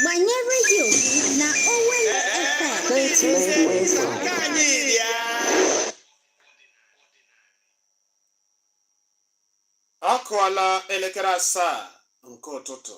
Manye redio na Owelle FM. Ọ kụọla elekere asaa nke ụtụtụ.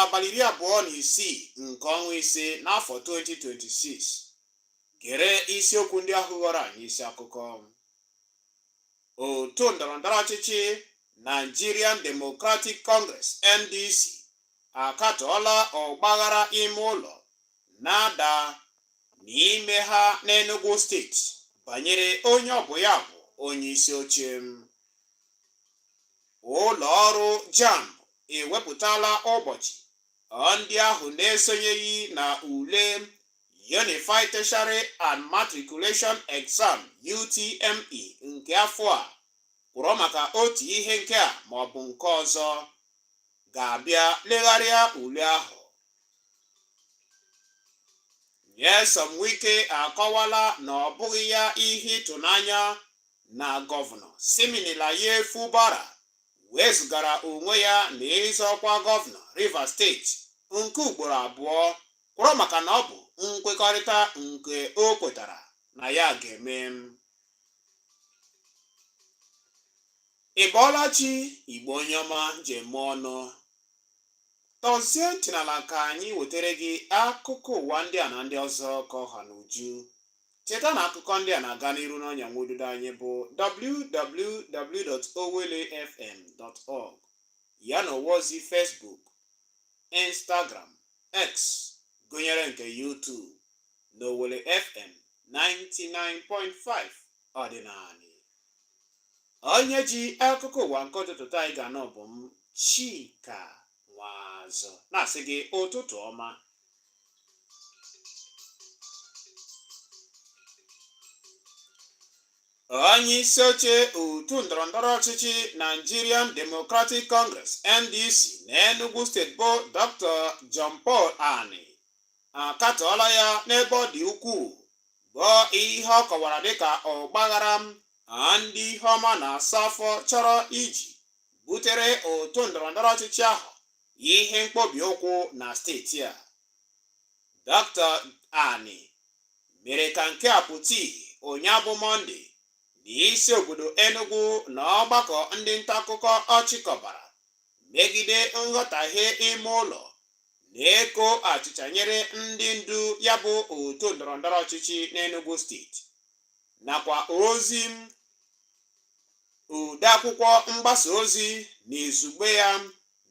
abalị iri abụọ na isii nke ọnwa ise n'afọ 2026 gere isiokwu ndị ahụ ghọrọ anyị isi akụkọ otu ndọrọndọrọ ọchịchị Nigerian Democratic Congress NDC akatọọla ọgbaghara ime ụlọ na-ada n'ime ha n'Enugu steeti banyere onye ọ bụ ya bụ onye isi oche ụlọ ọrụ JAMB ewepụtala ụbọchị ndị ahụ na-esonyeghị na ule Unified Tertiary and Matriculation Exam UTME nke afọ a kwụrụ maka otu ihe nke a ma ọ bụ nke ọzọ ga-abịa legharịa ule ahụ Nyesom Wike akọwala na ọ bụghị ya ihe ịtụnanya na gọvanọ Siminalayi Fubara wezụgara onwe ya na ịzọ ọkwa gọvanọ Rivers steeti nke ugboro abụọ kwụrụ maka na ọ bụ nkwekọrịta nke o kwetara na ya ga-eme ị bọọla chi Igbo onye ọma ji eme ọnụ tọzie ntị n'ala ka anyị wetara gị akụkọ ụwa ndị a na ndị ọzọ ka ọ ha n'uju Cheta na akụkọ ndị a na-aga n'iru n'ọnya nwa ududo anyị bụ www.owellefm.org ya na ụwa ozi Facebook, Instagram, X gụnyere nke YouTube na Owelle FM 99.5 ọdịnala. Onye ji akụkọ ụwa nke ụtụtụ taa anyị ga-anụ bụ m Chika Nwazụ na-asị gị ụtụtụ ọma onye isi oche otu ndọrọndọrọ ọchịchị Nigerian Democratic Congress NDC na Enugu steeti bụ Dr. John Paul Ani akatọọla ya n'ebe ọ dị ukwuu bụ ihe ọ kọwara dịka ọgbaghara ndị ihe ọma na-asa afọ chọrọ iji butere otu ndọrọndọrọ ọchịchị ahụ ihe mkpobi ụkwụ na steeti a Dr. Ani mere ka nke a pụta ihe ụnyaahụ bụ Mọnde n'isi obodo Enugu na ọgbakọ ndị nta akụkọ ọ chịkọbara megide nghọtahie ime ụlọ na-eko achịcha nyere ndị ndu ya bụ otu ndọrọndọrọ ọchịchị n'Enugu steeti nakwa ozi odeakwụkwọ mgbasa ozi na izugbe ya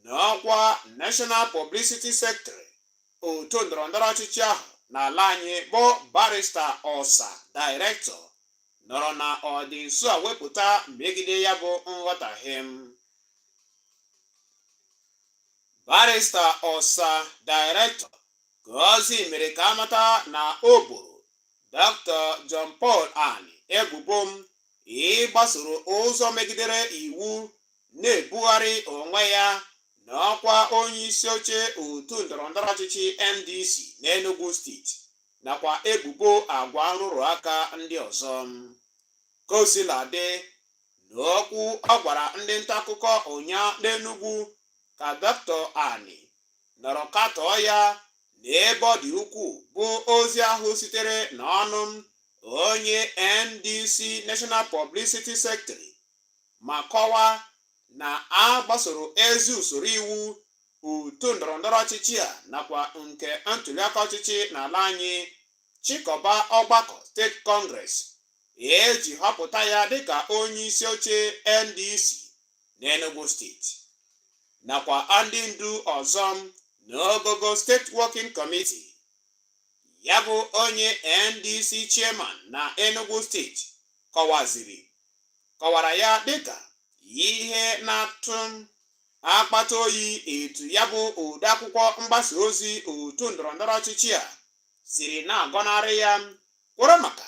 na ọkwa National Publicity Secretary otu ndọrọndọrọ ọchịchị ahụ n'ala anyị bụ barista Osa Director nọrọ na ọdị nso a wepụta megide ya bụ nghọtahie barista Osa Director ka ozi mere ka a mata na o boro Dr. John Paul Ani ebubo ịgbasoro ụzọ megidere iwu na-ebugharị onwe ya n'ọkwa onye isi oche otu ndọrọndọrọ ọchịchị NDC n'Enugu steeti nakwa ebubo agwa nrụrụ aka ndị ọzọ ka o sila dị n'okwu ọ gwara ndị nta akụkọ ụnyaa n'Enugu ka Dr. Ani nọrọ katọọ ya na ebe ọ dị ukwuu bụ ozi ahụ sitere n'ọnụ onye NDC National Publicity Secretary ma kọwa na a gbasoro ezi usoro iwu otu ndọrọndọrọ ọchịchị a nakwa nke ntụliaka ọchịchị n'ala anyị chịkọba ọgbakọ steeti congress e ji họpụta ya dịka onye isi oche NDC n'Enugu steeti nakwa ndị ndu ọzọ n'ogogo steeti working committee ya bụ onye NDC chairman na Enugu steeti kọwaziri kọwara ya dịka ihe na-atụ akpata oyi etu ya bụ odeakwụkwọ mgbasa ozi otu ndọrọndọrọ ọchịchị a siri na-agọnarị ya kworo maka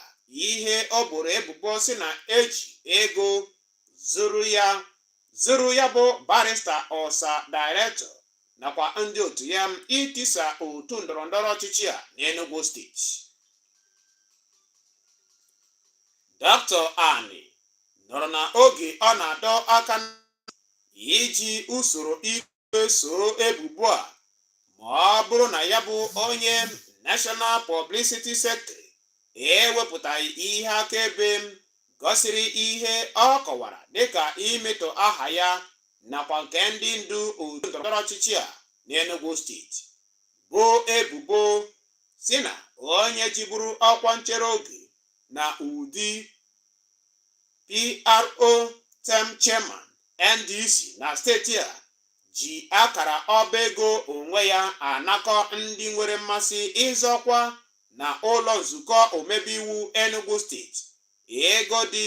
ihe o boro ebubo si na e ji ego zụrụ ya zụrụ ya bụ barista Osa Director nakwa ndị otu ya itisa otu ndọrọndọrọ ọchịchị a n'Enugu steeti Dr. Ani nọrọ na oge ọ na-adọ aka iji usoro soo ebubo a ma ọ bụrụ na ya bụ onye National Publicity Secretary ewepụtaghị ihe akaebe gosiri ihe ọ kọwara dịka imetọ aha ya nakwa nke ndị ndu otu ndọrọndọrọ ọchịchị a n'Enugu steeti bụ ebubo si na onye jiburu ọkwa nchere oge na ụdị pro tem chairman NDC na steeti a ji akara ọba ego onwe ya anakọ ndị nwere mmasị ịzọ ọkwa na ụlọ nzukọ omebe iwu Enugu steeti ego dị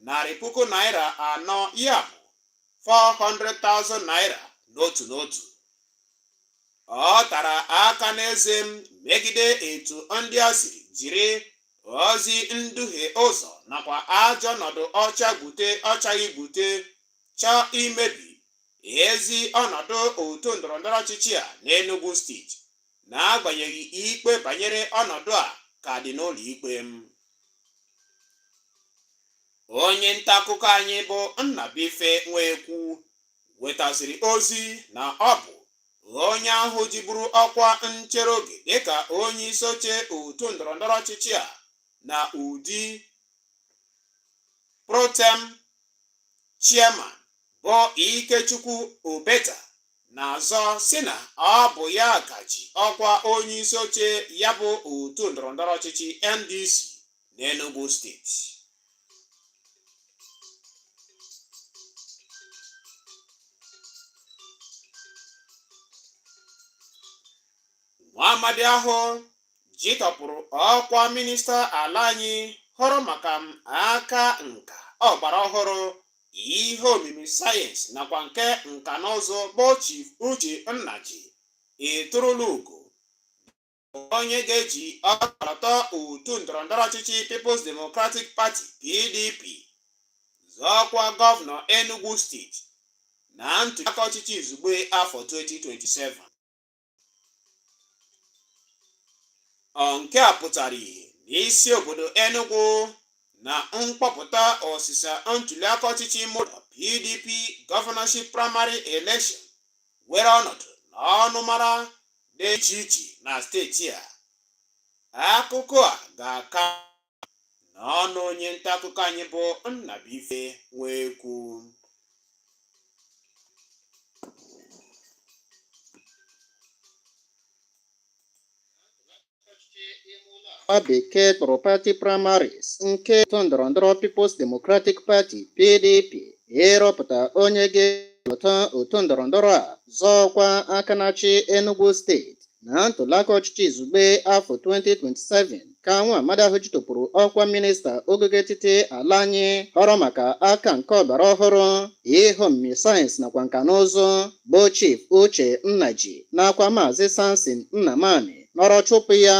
narị puku naira anọ ya bụ 400,000 naira n'otu n'otu ọ tara aka n'eze m megide etu ndị a siri jiri ozi nduhie ụzọ nakwa ajọ ọnọdụ ọ chaa gbute ọ chaghị gbute chọọ imebi ezi ọnọdụ otu ndọrọndọrọ ọchịchị a n'Enugu steeti n'agbanyeghị ikpe banyere ọnọdụ a ka dị n'ụlọ ikpe m onye nta akụkọ anyị bụ Nnabuife Nwekwu wetaziri ozi na ọ bụ onye ahụ jiburu ọkwa nchere oge dịka onye isi oche otu ndọrọndọrọ ọchịchị a na ụdị protem chairman bụ Ikechukwu Obeta na-azọ sị na ọ bụ ya ka ji ọkwa onye isi oche ya bụ otu ndọrọndọrọ ọchịchị NDC n'Enugu steeti nwa amadi ahụ jitọpụrụ ọkwa minista ala anyị hụrụ maka m aka nka ọgbara ọhụrụ ihe omimi sayensị nakwa nke nka na ụzụ bụ Chief Uche Nnaji eturula ugo onye ga-eji ọkọlọtọ otu ndọrọndọrọ ọchịchị People's Democratic Party PDP zọọ ọkwa gọvanọ Enugu steeti na ntụliaka ọchịchị izugbe afọ 2027 nke a pụtara ihe n'isi obodo Enugu na mkpọpụta ọsịsa ntụliaka ọchịchị ime ụlọ PDP governorship primary election were ọnọdụ n'ọnụmara dị iche iche na steeti a akụkọ a ga-aka n'ọnụ onye nta akụkọ anyị bụ Nnabuife Nwekwu Nwa bekee kpọrọ party primaries nke otu ndọrọndọrọ People's Democratic Party PDP ịrọpụta onye ga-elota otu ndọrọndọrọ a zọọ ọkwa aka na-achị Enugu steeti na ntụliaka ọchịchị izugbe afọ 2027 ka nwa amadi ahụ jitọpụrụ ọkwa minista ogogo etiti ala anyị hụrụ maka aka nke ọgbara ọhụrụ ihe omimi sayensị nakwa nka na ụzụ bụ Chief Uche Nnaji nakwa Maazị Samson Nnamani nọrọ chụpụ ya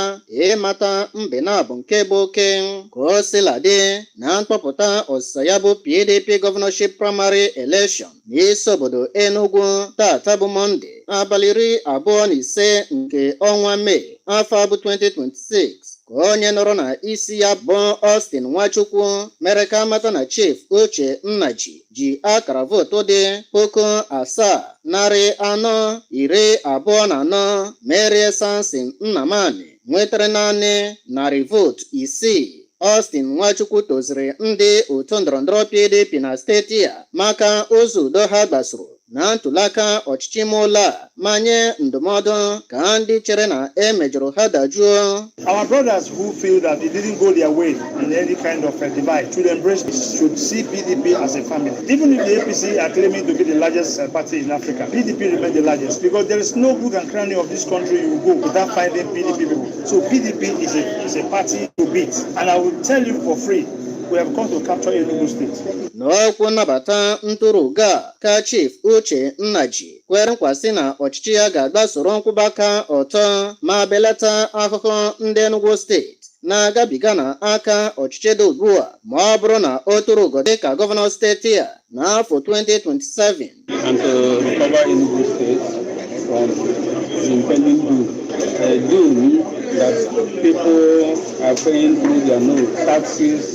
ịmata mbe naabọ nke bụ oke ka o sila dị na mkpọpụta ọsịsa ya bụ PDP gọvanọship praịmarị elekshọn n'isi obodo Enugu taata bụ Mọnde abalị iri abụọ na ise nke ọnwa Mee afọ a bụ 2026 ka onye nọrọ na isi ya bụ Austin Nwachukwu mere ka a mata na Chief Uche Nnaji ji akara vootu dị puku asaa narị anọ iri abụọ na anọ merie Samson Nnamani nwetara naanị narị vootu isii Austin Nwachukwu toziri ndị otu ndọrọndọrọ PDP na steeti a maka ụzọ udo ha gbasoro na ntụliaka ọchịchị ime ụlọ a ma nye ndụmọdụ ka ndị chere na e mejọrọ ha dajuo Our brothers who feel that it didn't go their way in any kind of a divide should embrace this, should see PDP as a family. Even if the APC are claiming to be the largest uh, party in Africa, PDP remains the largest because there is no good and cranny of this country you go without finding PDP people. So PDP is a, is a party to beat. And I will tell you for free, we have come to capture Enugu State. n'okwu nnabata ntụrụga ka Chief Uche Nnaji kwere nkwa sị na ọchịchị ya ga-agbasoro nkwụba aka ọtọ ma belata ahụhụ ndị Enugu steeti na-agabiga na aka ọchịchị dị ugbu a ma ọ bụrụ na o turu ugo dịka gọvanọ steeti a n'afọ 2027 and to recover Enugu State from the impending doom. A doom that people are paying through their nose, taxes,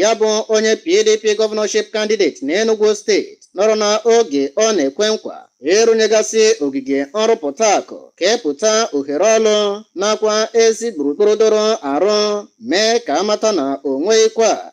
ya bụ onye PDP gọvanọship kandideti n'Enugu steeti nọrọ na oge ọ na-ekwe nkwa ịrụnyegasị ogige nrụpụta akụ kepụta ohere ọrụ nakwa ezi gburugburu doro arụ mee ka a mata na o nweghịkwa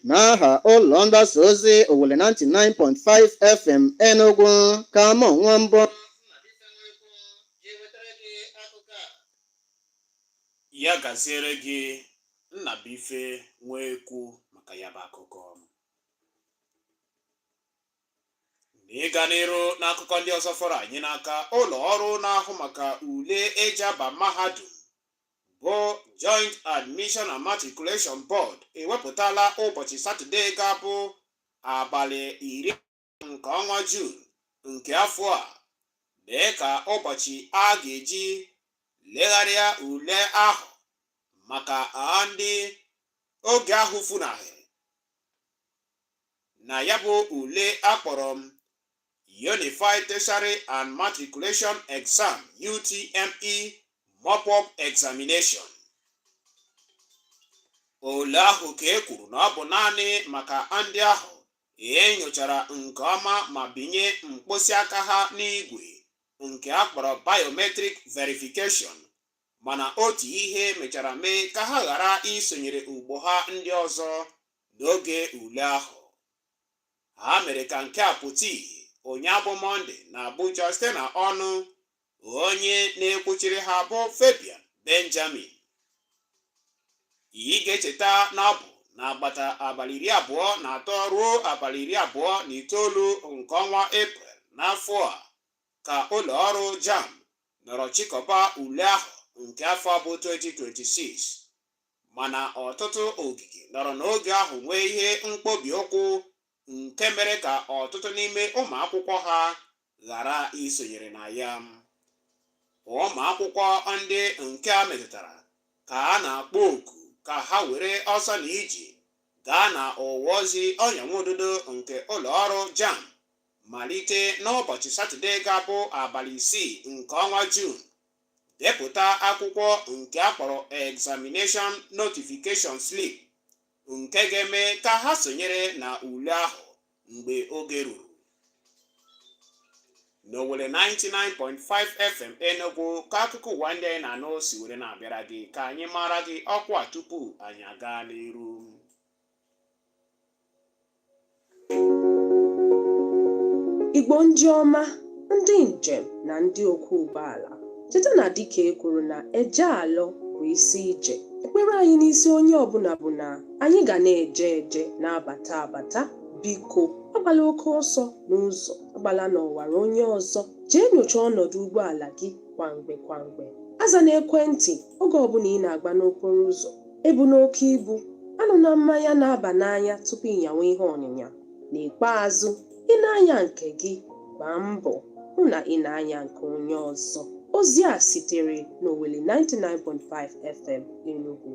n'aha ụlọ mgbasa ozi owelle 99.5 fm enugwu ka mụ nwa mbụ ya gaziere gị nnabuife nwa ekwu maka ya bụ akụkọ n'ịga n'iru n'akụkọ ndị ọzọ fọrọ anyị n'aka ụlọ ọrụ na-ahụ maka ule e ji aba mahadum bụ Joint Admission and Matriculation Board ewepụtala ụbọchị Satọde ga-abụ abalị iri nke ọnwa Jun nke afọ a dịka ụbọchị a ga-eji legharịa ule ahụ maka ndị oge ahụ funahịrị na ya bụ ule a kpọrọ m Unified Tertiary and Matriculation Exam UTME Mop-up Examination ule ahụ ka e kwuru na ọ bụ naanị maka ndị ahụ e nyochara nke ọma ma binye mkpịsị aka ha n'igwe nke a kpọrọ biometric verification mana otu ihe mechara mee ka ha ghara isonyere ogbo ha ndị ọzọ n'oge ule ahụ Ha mere ka nke a pụta ihe ụnyaahụ bụ Mọnde na Abuja site na ọnụ onye na-ekwuchiri ha bụ Fabian Benjamin. Ị ga-echeta na ọ bụ n'agbata abalị iri abụọ na atọ ruo abalị iri abụọ na itoolu nke ọnwa Eprel n'afọ a ka ụlọ ọrụ JAMB nọrọ chịkọba ule ahụ nke afọ bụ 2026. mana ọtụtụ ogige nọrọ n'oge ahụ nwee ihe mkpobi ụkwụ nke mere ka ọtụtụ n'ime ụmụ akwụkwọ ha ghara isonyere na ya ụmụ akwụkwọ ndị nke a metụtara ka a na-akpọ oku ka ha were ọsọ na ije gaa na ọwa ozi ọnya nwa ududo nke ụlọ ọrụ JAMB malite n'ụbọchị satọde ga-abụ abalị isii nke ọnwa juun depụta akwụkwọ nke a kpọrọ examination notification slip nke ga-eme ka ha sonyere na ule ahụ mgbe oge ruru n'Owelle 99.5 fm enugu ka akụkọ ụwa ndị anyị na-anụ si were na-abịara gị ka anyị maara gị ọkwa tupu anyị agaa n'iru Igbo ndị ọma, ndị njem na ndị ọkwọ ụgbọala, cheta na dịka e kwuru na eje alọ bụ isi ije. Ekpere anyị n'isi onye ọbụla bụ na anyị ga na-eje eje na-abata abata. Biko, agbala oke ọsọ n'ụzọ, agbala n'ọwara onye ọzọ. Jee nyochaa ọnọdụ ụgbọala gị kwa mgbe kwa mgbe. Azana ekwentị oge ọbụla ị na-agba n'okporo ụzọ. Ebuna oke ibu, aṅụna mmanya na-aba n'anya tupu ị nyawa ihe ọnyịnya. N'ikpeazụ, ị na-anya nke gị, gbaa mbọ hụ na ị na-anya nke onye ọzọ. Ozi a sitere n'Owelle 99.5 FM Enugu.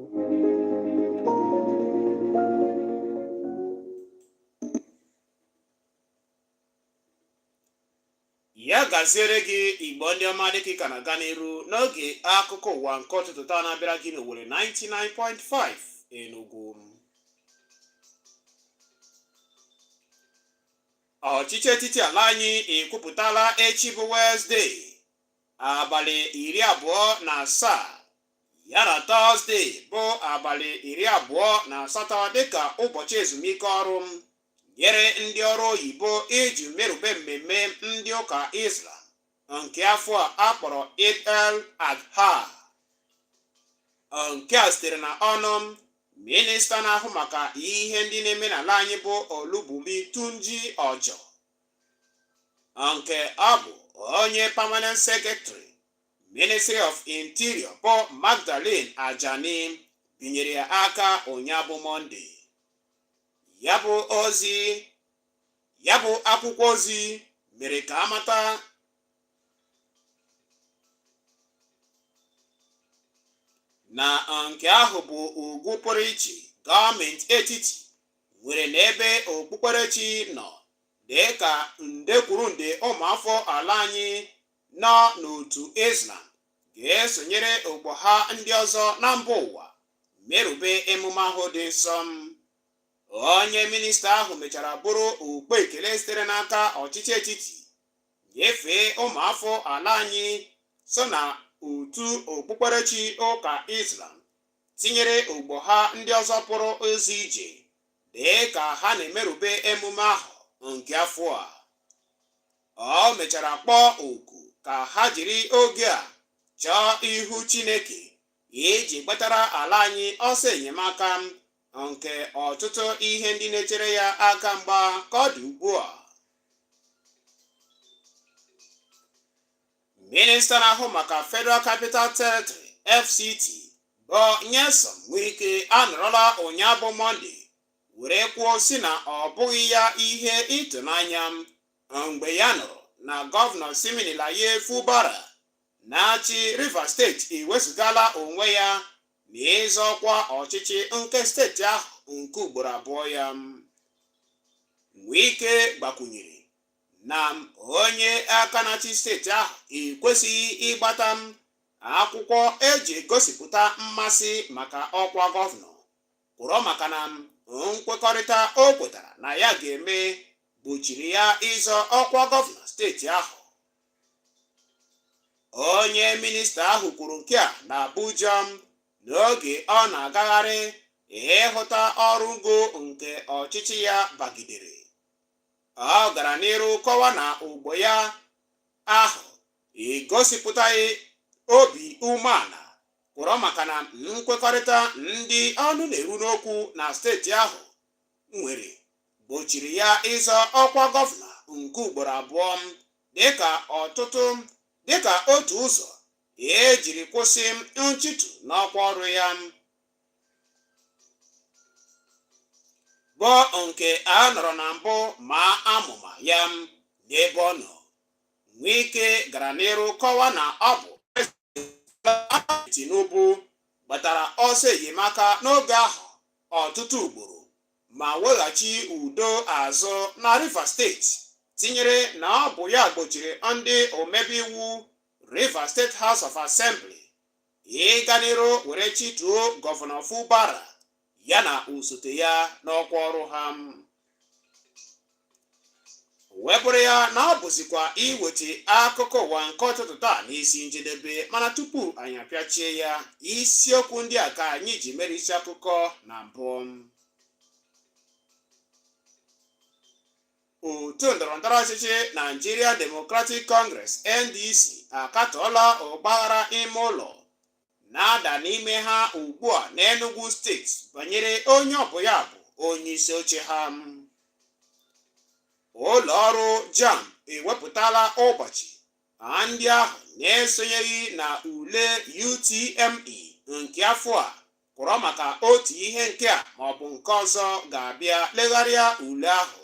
ya gaziere gị igbo ndị ọma dịka ị ka na-aga n'iru n'ige akụkọ ụwa nke ụtụtụ taa na-abịara gị n'Owelle 99.5 Enugu ọchịchị etiti ala anyị ekwupụtala echi bụ Wenesde abalị iri abụọ na asaa ya na Tọzde bụ abalị iri abụọ na asatọ dịka ụbọchị ezumike ọrụ nyere ndị ọrụ oyibo iji merube mmemme ndị ụka Islam nke afọ a a kpọrọ Eid al-Adha nke a sitere na ọnụ minista na-ahụ maka ihe ndị na-eme n'ala anyị bụ Olubunmi Tunji Ojo nke ọ bụ onye permanent secretary ministry of interior bụ Magdalene Ajani binyere ya aka ụnyaahụ bụ mọnde ya bụ ozi ya bụ akwụkwọ ozi mere ka a mata na nke ahụ bụ ugwu pụrụ iche gọọmenti etiti nwere n'ebe okpukperechi nọ dị ka nde kwuru nde ụmụafọ ala anyị nọ n'otu Islam ga-esonyere ogbo ha ndị ọzọ na mba ụwa merube emume ahụ dị nsọ onye minista ahụ mechara buru ụkpa ekele sitere n'aka ọchịchị etiti nyefee ụmụafọ ala anyị so na otu okpukperechi ụka islam tinyere ogbo ha ndị ọzọ pụrụ ụzọ ije dị ka ha na-emerube emume ahụ nke afọ a ọ mechara kpọọ oku ka ha jiri oge a chọọ ihu Chineke iji gbatara ala anyị ọsọ enyemaka nke ọtụtụ ihe ndị na-echere ya aka mgba ka ọ dị ugbu a minista na-ahụ maka federal capital territory fct bụ nyesom wike anọrọla ụnyaa bụ mọnde were kwuo sị na ọ bụghị ya ihe ịtụnanya mgbe ya nụrụ na gọvanọ siminalayi fubara na-achị Rivers steeti ewezụgala onwe ya n'ịzọ ọkwa ọchịchị nke steeti ahụ nke ugboro abụọ ya. Wike gbakwunyere na onye aka na-achị steeti ahụ ekwesịghị ịgbata akwụkwọ e ji egosipụta mmasị maka ọkwa gọvanọ kworo maka na nkwekọrịta o kwetara na ya ga-eme gbochiri ya ịzọ ọkwa gọvanọ steeti ahụ. onye minista ahụ kwuru nke a na abuja n'oge ọ na-agagharị ịhụta ọrụ ngo nke ọchịchị ya bagidere ọ gara n'iru kọwa na ogbo ya ahụ egosipụtaghị obi umeala kworo maka na nkwekọrịta ndị ọnụ na-eru n'okwu na steeti ahụ nwere gbochiri ya ịzọ ọkwa gọvanọ nke ugboro abụọ dịka ọtụtụ dịka otu ụzọ e jiri kwụsị nchitu n'ọkwa ọrụ ya bụ nke a nọrọ na mbụ maa amụma ya n'ebe ọ nọ Wike gara n'iru kọwa na ọ bụ Tinubu gbatara ọsọ enyemaka n'oge ahụ ọtụtụ ugboro ma weghachi udo azụ na Rivers steeti tinyere na ọ bụ ya gbochiri ndị omebe iwu Rivers State House of Assembly ịga n'iru were chituo gọvanọ Fubara ya na osote ya n'ọkwa ọrụ ha wee bụrụ ya na-abụzikwa iweta akụkọ ụwa nke ụtụtụ taa n'isi njedebe mana tupu anyị apịachie ya isiokwu ndị a ka anyị ji mere isi akụkọ na mbụ otu ndọrọndọrọ ọchịchị Nigeria Democratic Congress NDC akatọọla ọgbaghara ime ụlọ na-ada n'ime ha ugbu a n'Enugwu steeti banyere onye ọ bụ ya bụ onye isi oche ha ụlọ ọrụ JAMB ewepụtala ụbọchị ha ndị ahụ na-esonyeghị na ule UTME nke afọ a kwụrọ maka otu ihe nke a ma ọ bụ nke ọzọ ga-abịa legharịa ule ahụ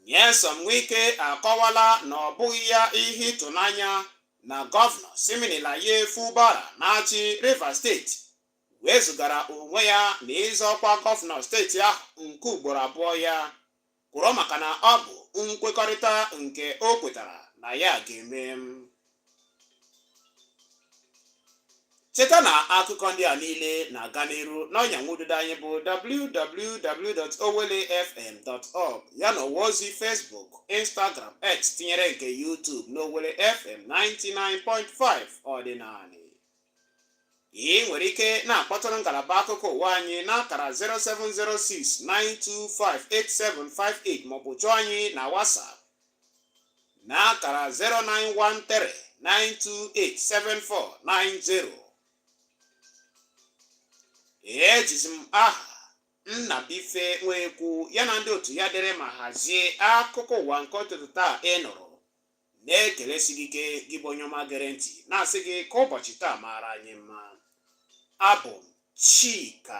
Nyesom Wike akọwala na ọ bụghị ya ihe ịtụnanya na gọvanọ Siminalayi Fubara na-achị Rivers steeti wezugara onwe ya na ịzọ ọkwa gọvanọ steeti ahụ nke ugboro abụọ ya kworo maka na ọ bụ nkwekọrịta nke o kwetara na ya ga-eme cheta na akụkọ ndị a niile na-aga n'iru n'ọnya nwududo anyị bụ www.owellefm.org ya na ọwa ozi Facebook Instagram X tinyere nke YouTube n'Owelle FM 99.5 ọdịnanị ị nwere ike na-akpọtụrụ ngalaba akụkọ ụwa anyị n'akara 0706 925 8758 ma ọ bụ chọọ anyị na WhatsApp na akara 09139287490 ejizi m aha Nnabuife Nwekwu ya na ndị otu ya dere ma hazie akụkọ ụwa nke ụtụtụ taa ị nụrụ na-ekelesi gị ike gị bụ onye ọma gere ntị na-asị gị ka ụbọchị taa maara anyị mma abụ m Chika